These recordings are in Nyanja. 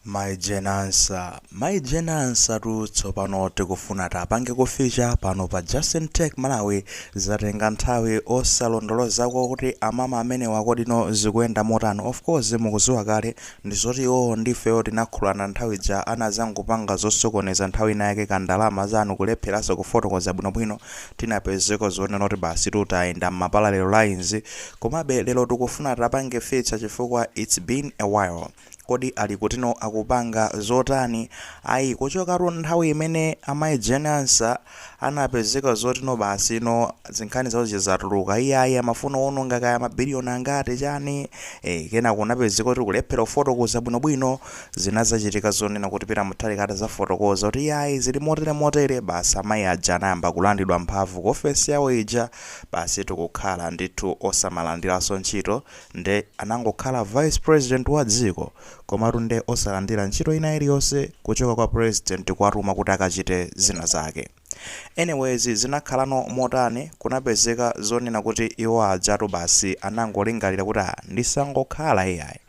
Mai Jane Ansah Mai Jane Ansah tu tsopano tikufuna tapangeko feature pano pa Justin Tech Malawi zatenga nthawi osalondolozako kuti amama amenewa kodino zikuyenda motani of course mukuziwa kale ndizoti iwowo ndifeyo tinakhululana nthawi ija anazangopanga zosokoneza nthawi ina yake ka ndalama zanu kulepheranso kufotokoza bwino bwino tinapezeko zonena kuti basi tu tayenda mma parallel lines komabe lero tikufuna tapange feature chifukwa it's been a while Kodi ali kutino akupanga zotani? Ayi kuchokatu nthawi imene amayi Jane Ansah anapezeka zotino basi ino zinkhani zawo zija zatuluka. Iyayi amafuna kuwononga kaya mabiliyoni angati chani. E, kenako kunapezeka kuti kulephera kufotokoza bwinobwino zinazachitika zonena kuti Peter Mutharika atazafotokoza kuti iyayi zili motere motere basi amayi aja anayamba kulandidwa mphamvu ku ofesi yawo ija basi tu kukhala ndithu osamalandiranso ntchito. Nde anangokhala vice president wa dziko komatu nde osalandira ntchito ina iliyonse kuchoka kwa president kuwatuma kuti akachite zina zake. Anyways zinakhalano motani kunapezeka zonena kuti iwo ajatu basi anangolingalira kuti ah ndisangokhala iyayi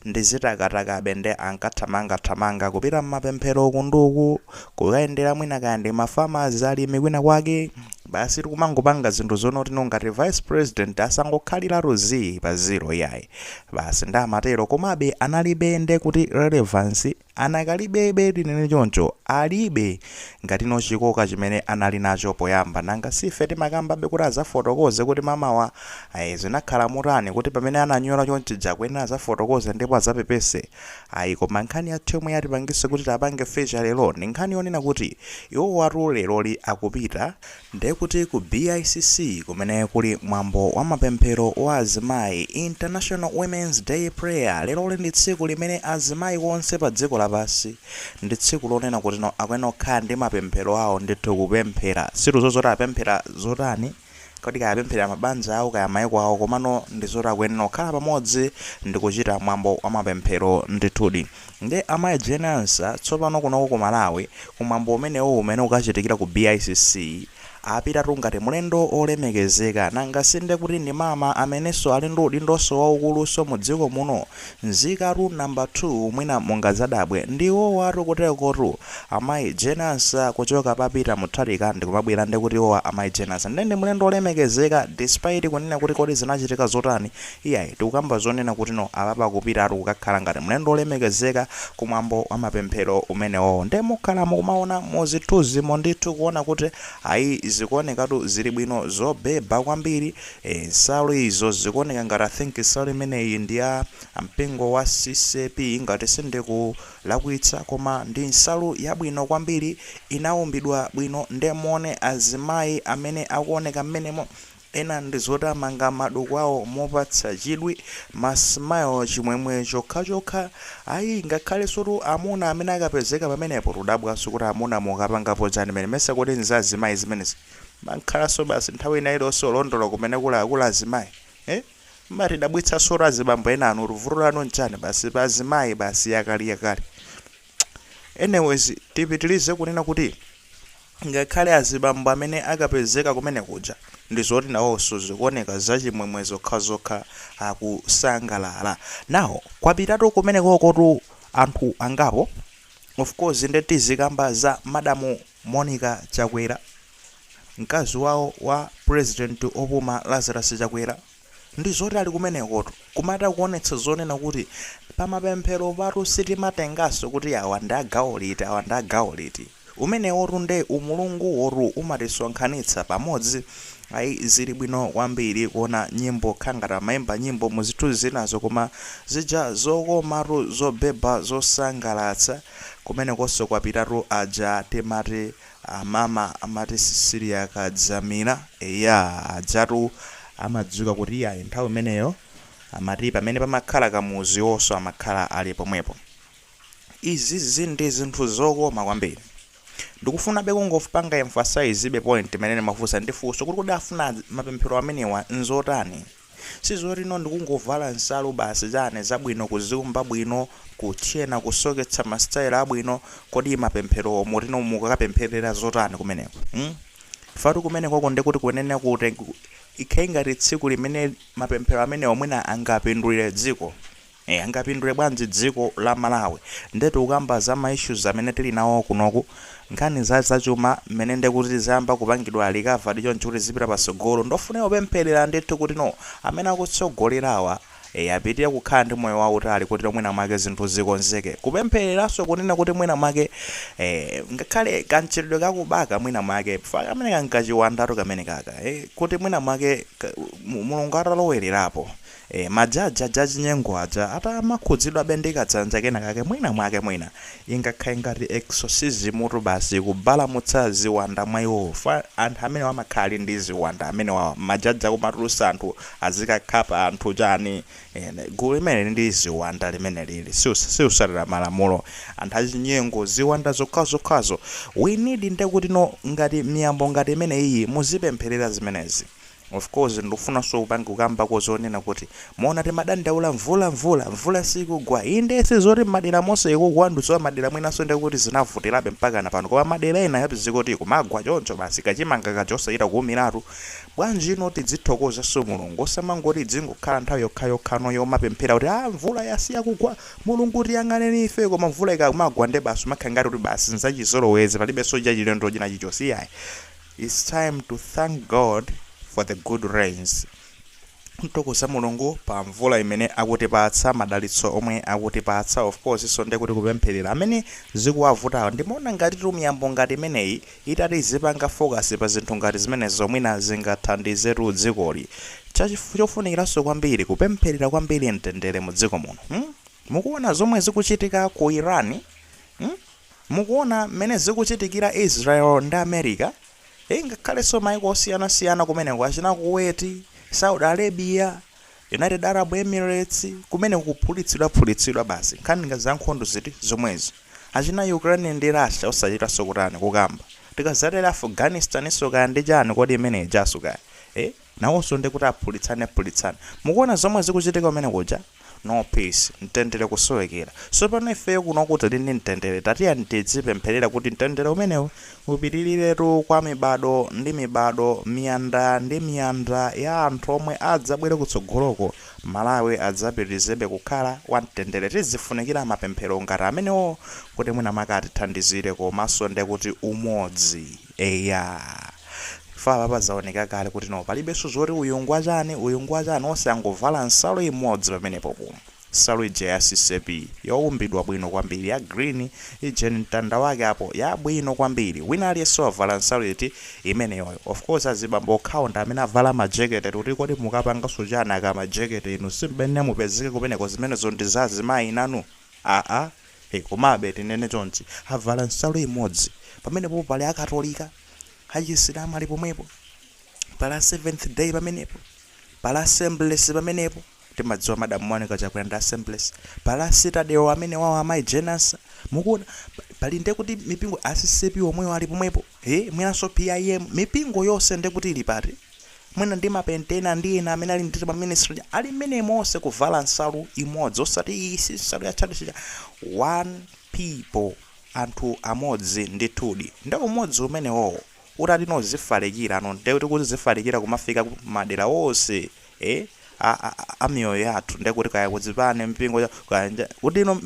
ndizitakatakabe nde ankathamanga thamanga kupita mmapemphero uku ndi uku kukayendera mwina kaya ndi ma farmers, alimi kwina kwake, basitu kumangopanga zinthu zonena kutino ngati vice president asangokhaliratu zii pa zero iyayi, basi nde amatero, komabe analibe nde kuti relevance anakalibebe tinene choncho, alibe ngatino chikoka chimene anali nacho poyamba, nanga si ife timakambabe kuti azafotokoze kuti mamawa, ayi zinakhala motani kuti pamene ananyola chonchija akuyenera azafotokoze ndipo azapepese, Ayi, koma nkhani yathu yomwe yatipangisa kuti tapange feature lero ndi nkhani yonena kuti iwowatu leroli akupita, nde kuti ku BICC kumene kuli mwambo wa mapemphero wa azimayi, International Women's Day Prayer, leroli ndi tsiku limene azimayi onse pa dziko lapansi, ndi tsiku lonena kutino akuyenera kukhala ndi mapemphero awo ndithu kupemphera, sitikuziwa zoti apemphera zotani, Kodi kaya apemphera mabanja awo kaya maiko awo, komano ndi zoti akuyenera kukhala pamodzi ndi kuchita mwambo wa mapemphero ndithudi. Nde Amayi Jane Ansah, tsopano kunoko ku Malawi, ku mwambo umenewo umene ukachitikira ku BICC, apitatu ngati mlendo wolemekezeka. Nanga si nde kuti ndi Mama amenenso ali ndi udindonso waukulunso mu dziko muno? Nzikatu number 2 mwina mungazadabwe ndi iwowatu kuterekotu amayi Jane Ansah kuchoka pa Peter Mutharika ndikumabwera ndekuti iwowa amayi Jane Ansah nde ndi mlendo olemekezeka despite kunena kuti kodi zinachitika zotani iyayi tikukamba zonena kutino apapa akupitatu kukakhala ngati mlendo olemekezeka ku mwambo wa mapemphero umenewowo nde mukhala mukumaona mu zithuzimo ndithu kuona kuti ayi zikuonekatu zili bwino zobheba kwambiri Eee nsalu izo zikuoneka ngati I think nsalu imeneyi ndi ya mpingo wa CCAP ngati sindikulakwitsa koma ndi nsalu yabwino kwambiri inaumbidwa bwino nde muone azimayi amene akuoneka mmenemo ena ndi zoti amanga maduku awo mopatsa chidwi ma smile chimwemwe chokhachokha ayi ngakhalensotu amuna amene akapezeka pamenepo tudabwanso kuti amuna mukapangapo chani mene mesa kodi nza azimayi zimenezi Mmakhalanso basi nthawi ina iliyonse olondola kumene kuli a kuli azimayi. Eh? Mmatidabwitsanso tu azibambo enanutu vuto lanu nchani basi pa azimayi basi yakaliyakali. Anyways tipitilize kunena kuti ngakhale azibambo amene akapezeka kumene kuja ndizoti nawonso zikuoneka zachimwemwe zokhazokha akusangalala. Now kwapitatu kumenekokotu anthu angapo of course nde tizikamba za madam Monica Chakwera, mkazi wawo wa president opuma Lazarus Chakwera, ndi zoti ali kumenekotu kumatha kuonetsa zonena kuti pamapempheropatu sitimatenganso kuti awa ndi a gawo liti awa ndi a gawo liti. Umenewotu nde umulunguwotu umatisonkhanitsa pamodzi. Ayi zili bwino kwambiri kuona nyimbo kukhala ngati amaimba nyimbo mu zithunzi zinazo koma zija zokomatu zobhebha zosangalatsa. Kumenekoso kwapitatu aja timati amama amati Cecilia Kadzamira eya ajatu amadziwika kuti iyayi nthawi imeneyo amati pamene pamakhala Kamuzu iwoso amakhala ali pomwepo izizi ndi zinthu zokoma kwambiri ndikufunabe kungopanga emphasize be point imene ndimafunsa ndi funso kuti kodi afuna mapemphero amenewa nzotani Sizoti no ndikungovala nsalu basi chani zabwino kuziumba bwino kutchena kusoketsa ma style abwino kodi mapempherowo muti no mukukapempherera zotani kumeneko mm chifukwatu kumenekoko ndekuti kuyenera kuti ikhale ngati tsiku limene mapemphero amenewo mwina angapindulire dziko Eya angapindule bwanji dziko la Malawi? Nde tikukamba za ma issues amene tili nawo kunoku. Nkhani za zachuma mmene nde kuti zayamba kupangidwa recovered choncho kuti zizipita patsogolo ndofunika kupemphelera ndithu kuti no amene akutsogolerawa eya apitire kukhala ndi moyo wautali kuti no mwina mwake zinthu zikonzeke. Kupempheleranso kunena kuti mwina mwake eh ngakhale kamchitidwe kakubaka mwina mwake chifukwa kameneka nkachiwandatu kamenekaka eh kuti mwina mwake Mulungu atalowererapo. Eee, majaji aja achinyengo aja atamakhudzidwabe ndi kadzanja kena kake, mwina mwake, mwina, ingakhale ngati exorcism-tu basi, kubalamutsa ziwanda mwa iwowo, fwa anthu amenewa amakhala ali ndi ziwanda amenewawa, majaji akumatulutsa anthu azikakhapa anthu chani, eeh, gulu limeneli ndi ziwanda limenelili, sius, sikusatira malamulo, anthu achinyengo, ziwanda zokhazokhazo, we need ndekuti no, ngati miyambo ngati imeneyiyi muzipempherera zimenezi, Of course ndikufunanso kukambako zonena kuti mwaona timadandaula mvula, mvula sikugwa, indee sizoti madera monse ikugwa ndikudziwanso madera mwinanso ndekuti zinavutirabe mpakana pano koma madera ena yapezeka kuti kumagwa choncho basi kachimanga kaja osachita kuumiratu bwanjino tidzithokozanso Mulungu osamangoti idzingokhala nthawi yokhayokhanso yomapemphera kuti aah mvula yasiya kugwa Mulungu tiyang'aneni ife koma mvula ikamagwa ndebasi umakhala ngati kuti basi nzachizolowezi palibenso chachilendo chinachichonse iyayi Its time to thank God for the good rains, kuthokoza Mulungu pa mvula imene akutipatsa, madalitso omwe akutipatsa, of course so ndekuti kupempherera amene zikuwavutawa. Ndimaona ngatitu miyambo ngati imeneyi itati izipanga focus pa zinthu ngati zimenezo mwina zingathandizetu dzikoli. Chofunikiranso kwambiri kupempherera kwambiri mtendere mu dziko muno. Hmm? Mukuona zomwe zikuchitika ku Iran? Hmm? Mukuona mmene zikuchitikira Israel ndi America? Eeh, ngakhalenso maiko osiyanasiyana kumeneko, achina Kuwait, Saudi Arabia, United Arab Emirates, kumene kukuphulitsidwaphulitsidwa basi. Nkhani yake zankhondo ziti? Zomwezi. Achina Ukraine ndi Russia osachitanso kutani, kukamba. Tikadzatere Afghanistaninso kaya ndi chani kodi imene ijanso kaya? Eeh? Nawoso nde kuti aphulitsane phulitsane. Mukuona zomwe zikuchitika kumene kuja? No peace. Mtendere kusowekera. Sopano ifeyo kunoku tili ndi mtendere tatiyeni tidzipemphelera kuti mtendere umenewu upitiriretu kwa mibado ndi mibado, miyanda ndi miyanda ya anthu omwe adzabwere kutsogoloko. Malawi adzapitilizebe kukhala wa mtendere. Tidzifunikira mapemphero ngati amenewo kuti mwina mwake atithandizire komaso nde kuti umodzi. Eya. Chifukwa apapa zaoneka kale kuti no palibenso zoti uyu ngwa chani, uyu ngwa chani onse angovala nsalu imodzi pamenepopo. Nsalu ija ya CCAP youmbidwa bwino kwambiri ya green ija ndi mtanda wake apo yabwino kwambiri. Wina aliyense wavala nsalu iti? Imeneyoyo. Of course azibambo okhawo ndi amene avala ma jekete kuti kodi mukapanganso chani aka ma jekete inu sim'mene mupezeke kumeneko zimenezo ndi za azimayi nanu? Aaa. Hey, komabe tinene chonchi, avala nsalu imodzi. Pamenepopo pali a Katolika, a Chisilamu ali pomwepo. Pali a Seventh Day pamenepo. Pali a Assemblies pamenepo. Timadziwa Madam Monica Chakwera ndi a Assemblies. Pali a Citadel amene wawo amayi Jenasa. Mukuona? Pali, pali nde kuti mipingo a CCAP omwewo ali pomwepo. Hey, mwinanso PIM. Mipingo yonse nde kuti ili pati? Mwina ndi ma pentena ndi ena amene ali ndi timaministry ali mmenemo onse kuvala nsalu imodzi osati iyi si nsalu ya tchalitchi chathu one people anthu amodzi ndithudi nde umodzi umenewowo utati no zifalikira no nde kuti kudzifalikira kumafika madera onse eh a, a, a miyoyo yathu ndiye kuti kaya kudzipani mpingo cha- kaya nja-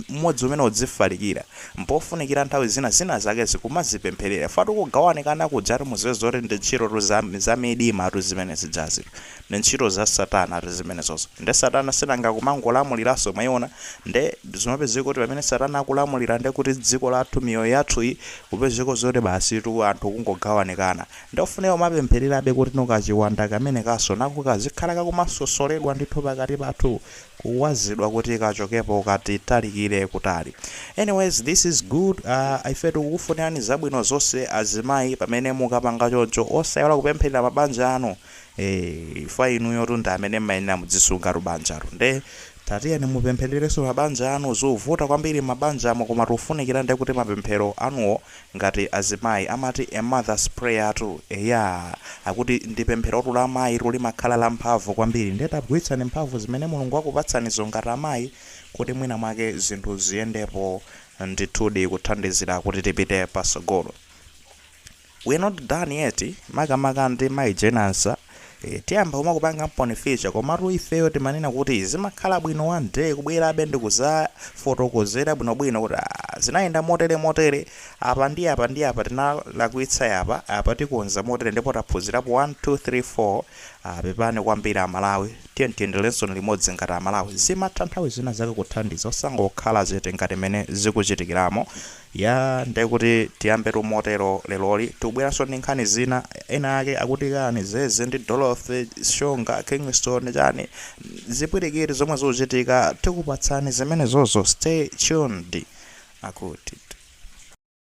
umodzi umene udzifalikira mpofunikira nthawi zina zina zake zikumazipempherera fatu kugawanikana kujatu muziwe zoti ndi ntchito tu za, za midima tu zimenezijazi tu ndi ntchito za satana tu zimenezozo nde satana si nanga kumangolamuliranso mwaiona nde zimapezeka kuti pamene satana akulamulira nde kuti dziko lathu miyoyo yathu iyi kupezeka zoti basi tu anthu kungogawanikana Ndofunika kumapemphererabe kuti kachiwanda kamenekanso nako kazikhala kakumasosoledwa ndithu pakati pathu, kuwazidwa kuti kachokepo katitalikire kutali. Anyways this is good aah ife tikukufunirani zabwino zonse azimayi pamene mukapanga choncho osaiwala kupempherera mabanja anu eeh chifukwa inuyotu ndi amene mmayenera mudzisungatu banjalo nde tatiyeni mupemphererenso mabanja anu zuvuta kwambiri mmabanjamo koma tufunikira ndekuti mapemphero anuwo Ngati azimayi amati a mother's prayer tu eyaa akuti ndi pempherotu la amayi tu limakhala la mphamvu kwambiri nde tagwiritsani mphamvu zimene Mulungu wakupatsanizo ngati amayi kuti mwina mwake zinthu ziyendepo ndithudi kuthandizira kuti tipite pasogolo we're not done yet makamaka ndi mayi Jane Ansah E, tiyamba kumakupangamponi feature komatu ifeyo timanena kuti zimakhala bwino one day kubwerabe ndikuzafotokozera bwinobwino kuti ah, zinayenda motere motere apa ndi apa ndi apa tinalakwitsa apa apa tikonza motere ndipo taphunzirapo 1 2 3 4 ah, pepani kwambiri amalawi tiyeni tiyendelenso limodzi ngati amalawi zimatha nthawi zina zake kuthandiza osangokhala zete ngati mene zikuchitikiramo Yaa nde kuti tiyambetu motero leroli tikubweranso ndi nkhani zina ena ake akuti kani Zeze ndi Dorothy Shonga Kingston chani zipwirikiti zomwe zikuchitika tikupatsani zimenezozo stay tuned akuti.